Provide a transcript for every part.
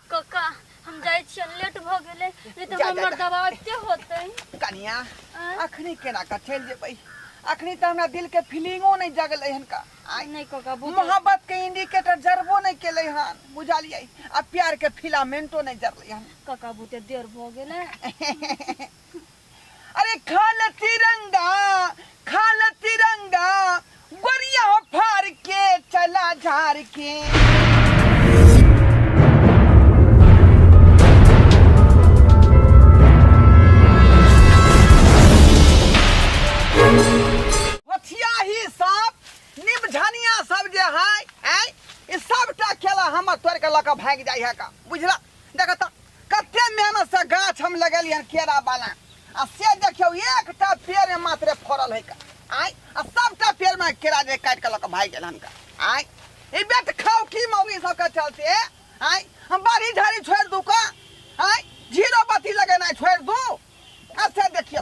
कक्का हम जाइ छियै लेट भऽ गेलै नहि तऽ जा, जा, हमर जा। दवा अबिते होतै कनिया आँय? अखनी केना कऽ चलि जेबै अखनी तऽ हमरा दिल के फीलिंगो नहि जगलै हन का आइ नहि कक्का बहुत मोहब्बत के इंडिकेटर जरबो नहि केलै हन बुझलियै आ प्यार के फिलामेंटो नहि जरलै हन कक्का बहुते देर भऽ गेलै अरे खाल तिरंगा खाल तिरंगा गोरिया हो फार के चला झार के हथिया ही सब निम झनिया सब जे है ऐ, ई सबटा खेला हमर तोड़ के लऽ कऽ भागि जाइ है का बुझला देखऽ तऽ कते मेहनत से गाछ हम लगेलियै हन केरा वाला आ से देखियौ एकटा पेड़ में मात्र फड़ल है का आय आ सबटा पेड़ में केरा जे काट के लऽ के भाग गेल हन का आय ई बेट खाऊ की मौगी सब के चलते आय हम बाड़ी झाड़ी छोड़ दू का आय जीरो बत्ती लगेनाइ छोड़ दू आ से देखियौ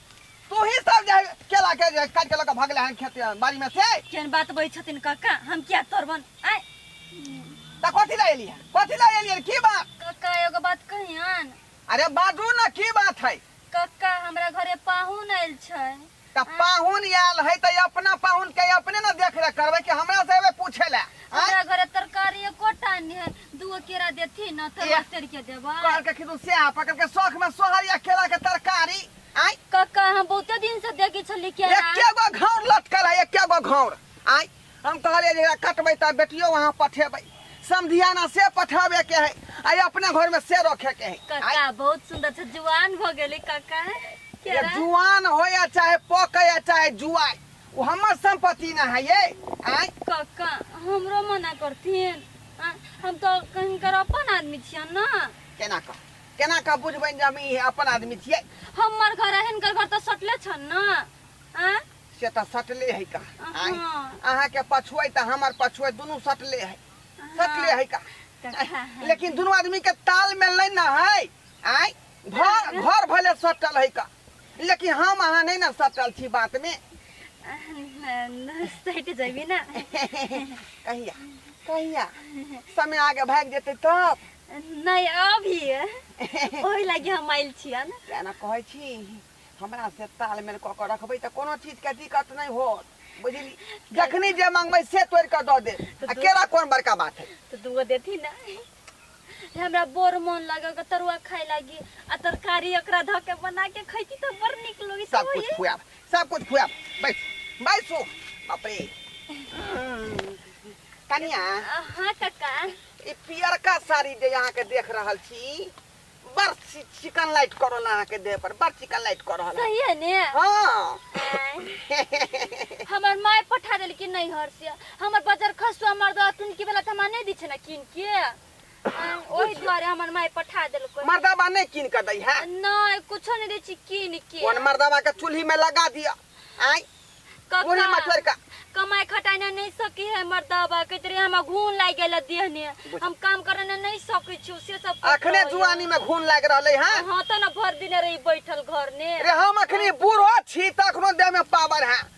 तू ही सब जे केला के जे काट के लक भगले हन खेत बाड़ी में से केन बात बई छथिन काका हम क्या तोरबन आय त कथी ला एलिया कथी ला एलिया की बात काका एगो बात कहियन अरे बाजू न की बात है काका हमरा घरे पाहुन आयल छै त पाहुन आयल है त अपना पाहुन के अपने न देख रेख करबे कि हमरा से एबे पूछे ला आय हमरा घरे तरकारी एकोटा नहीं है दूगो केरा देती ना तो ए। रस्ते के देबा कहल के खिदू से आ पकड़ के शौक में सोहर या केला के तरकारी आई काका हम बहुते दिन से देखी छली केरा एके गो घौर लटकल है एके गो घौर आई हम कहलिए जे एकरा कटबै त बेटियो वहाँ पठेबै समधियाना से पठाबे के है आई अपने घर में से रखे के है आई, काका बहुत सुंदर से जुआन भ गेली काका ये केरा जुआन हो या चाहे पक या चाहे जुआई वो हमर संपत्ति ना है ये आई काका हमरो मना करथिन आ, हम तो कहीं कर अपन आदमी छिया ना केना कह केना कह बुझबनि जे हम ई अपन आदमी छियै हमर घर है हिनकर घर तो सटले छन ना आ से तऽ सटले है का आँय? अहाँ। अहाँके पछुए तऽ हमर पछुए दुनू सटले है सटले है का काका लेकिन दुनू आदमी के तालमेल नहि ने है आँय घर घर भले सटल है का लेकिन हम अहाँ नहीं ना सटल छी बात में सटि जेबी ना कहिया कहिया समय आगे भाग जेते तब नहीं अभी ओहि लगी हम आयल छियै ने केना कहै छी हमरा से तालमेल कऽ कऽ रखबै तऽ कोनो चीजके दिक्कत नहि होत बुझली जखनी जे मांगबै से तोड़ि कऽ दऽ देब आ केरा कोन बड़का बात है तो दूगो देती ना हे हमरा बड़ मन लगे के तरुआ खाए लागी आ तरकारी एकरा ध के बना के खैती त बड़ निक लगी सब कुछ खुआब सब कुछ खुआब बैठ बैठ सो बाप रे कनिया हां काका ई पियरका साड़ी जे यहाँ के देख रहल छी बड़ सी- चिकन लाइट करल अहाँ के देह पर बड़ चिकन लाइट कर रहल है। सही है ने हाँ आय। हमर माय पठा देल कि नहीं हर से हमर बाजार खसुआ मर्दा टुनकी वाला तमा नहीं दी छै ना किन के आ, ओहि द्वारे हमर माय पठा देलको मर्दाबा नहीं कीन के दै है नहीं कुछो नहीं दै छी किन के कौन मर्दाबा के चूल्ही में लगा दिया आय कका, बूढ़ी मछुआर का कमाई खटाई ना नहीं सकी है मर्दाबा के तरे हमरा घून लाग गेल देह ने हम काम करे ना नहीं सकै छी से सब करते अखने होइए। जुआनी में घून लाग रहले है हाँ तो ना भर दिन रही बैठल घर ने रे हम अखनी बूढ़ो छी तखनो देह में पावर है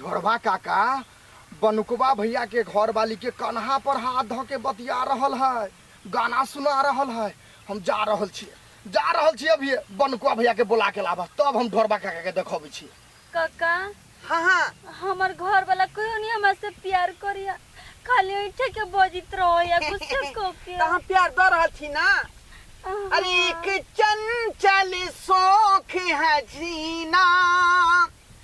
ढोरबा काका बनुकबा भैया के घर वाली के कन्हा पर हाथ धऽ के बतिया रहल है गाना सुना रहल है हम जा रहल छियै जा रहल छियै अभी बनुकबा भैया के बुला के लाबह तब हम ढोरबा काका के देखबै छियै काका हाँ हाँ हमर घर वाला कहियो नहीं हमरा से प्यार करिया खाली ऐठे के बजित रहो या गुस्से को के तो हम प्यार दऽ रहल छी ना अरे एक चंचल शौक है जीना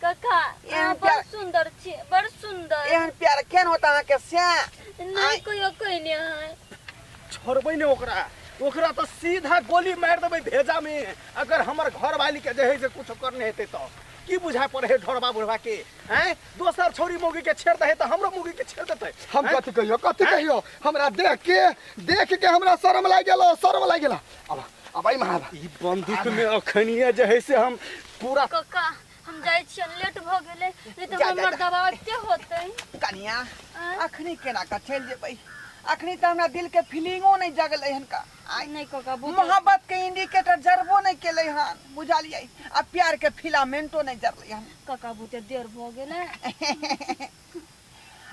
काका एहन अहाँ बड़ प्यार- सुंदर छी बड़ सुंदर एहन प्यार केन होता अहाँ के से नहीं कहियो कहने है छोड़बै ने ओकरा ओकरा तो सीधा गोली मार देबै भेजा में अगर हमर घर वाली के जे है से कुछ करने हेतै तो की बुझा पड़े है ढोरबा बुढ़वा के हैं दोसर छौरी मौगी के छेड़ दे है तो हमरो मौगी के छेड़ देतै हम हैं? कथी कहियो कथी कहियो हमरा देख के देख के हमरा शर्म लागि गेलो शर्म लागि गेलो अब अब आई महाराज ई बंदूक में अखनिया जे है से हम पूरा कक्का हम जाइ छियन लेट भ गेलै नहि तऽ जा, जा, हमर जा। दबाव एते होतै कनिया आँय? अखनी केना का चल जेबै अखनी तऽ हमरा दिल के फीलिंगो नहीं जगलै हन का आइ नहि कक्का बहुत मोहब्बत के इंडिकेटर जरबो नहीं केलै हन बुझलियै आ प्यार के फिलामेंटो नहीं जरलै हन कक्का बहुते देर भ गेलै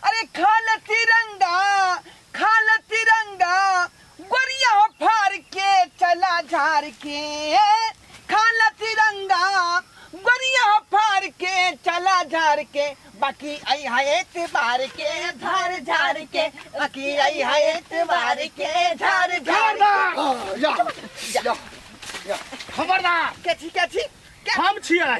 अरे खाल तिरंगा खाल तिरंगा गोरिया हो फार के चला झार के खाल तिरंगा गोरिया हो फार के चला झार के बाकी आई है एतबार के झार झार के बाकी आई है एतबार के झार झार के खबरदार खबरदार कैथी कैथी हम छियै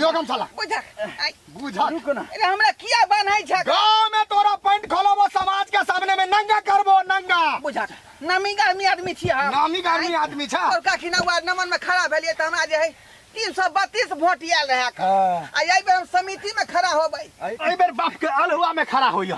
यो कम साला बुझक आइ बुझा रुको ना अरे हमरा किया बान्है छक गांव में तोरा पैंट खोलबो समाज के सामने में नंगा करबो नंगा बुझक नामी गामी आदमी छी हम नामी गामी आदमी छ और काकी ना वार्ड नंबर में खड़ा भेलिए त हमरा जे है 332 वोट आयल रहे आ एहि बेर हम समिति में खड़ा होबै एहि बेर बाप के अलहुआ में खड़ा होइयो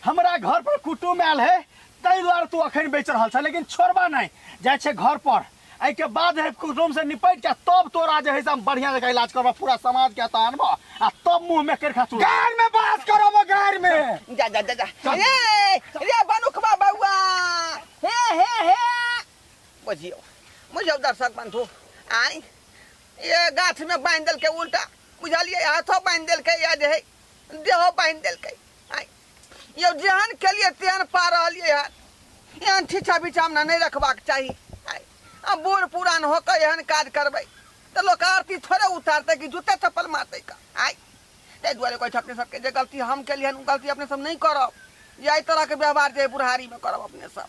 हमरा घर पर कुटुम आयल है ताहि दुआरे तू अखन बेच रहल छ लेकिन छोड़बा नहीं जाय छे घर पर एहि के बाद है कुटुम से निपट के तब तोरा जे है से हम बढ़िया जगह इलाज करबा पूरा समाज के हता अनबा आ तब मुंह में कर खाचू गार में बात करब गार में जा जा जा जा चल। ए रे बनुखबा बउआ हे हे हे बुझियो बुझियो दर्शक बंधु आई ये गाछ में बांध देलकै उल्टा बुझलियै हाथो बांध देलकै या जे है देहो बांध देलकै आई यौ जेहन केलियै तेहन पा रहलियै हन एहन छिछा बिछामना नहि रखबाक चाही आइ आ बूढ़ पुरान होकर एहन काज करबै तऽ लोक आरती थोड़े उतारतै कि जूते चप्पल मारतै का आइ ताहि दुआरे कहै छै अपने सबके जे गलती हम केलियै हन ओ गलती अपने सब नहि करब जे एहि तरहके व्यवहार जे अइ बुढ़ारीमे करब अपने सब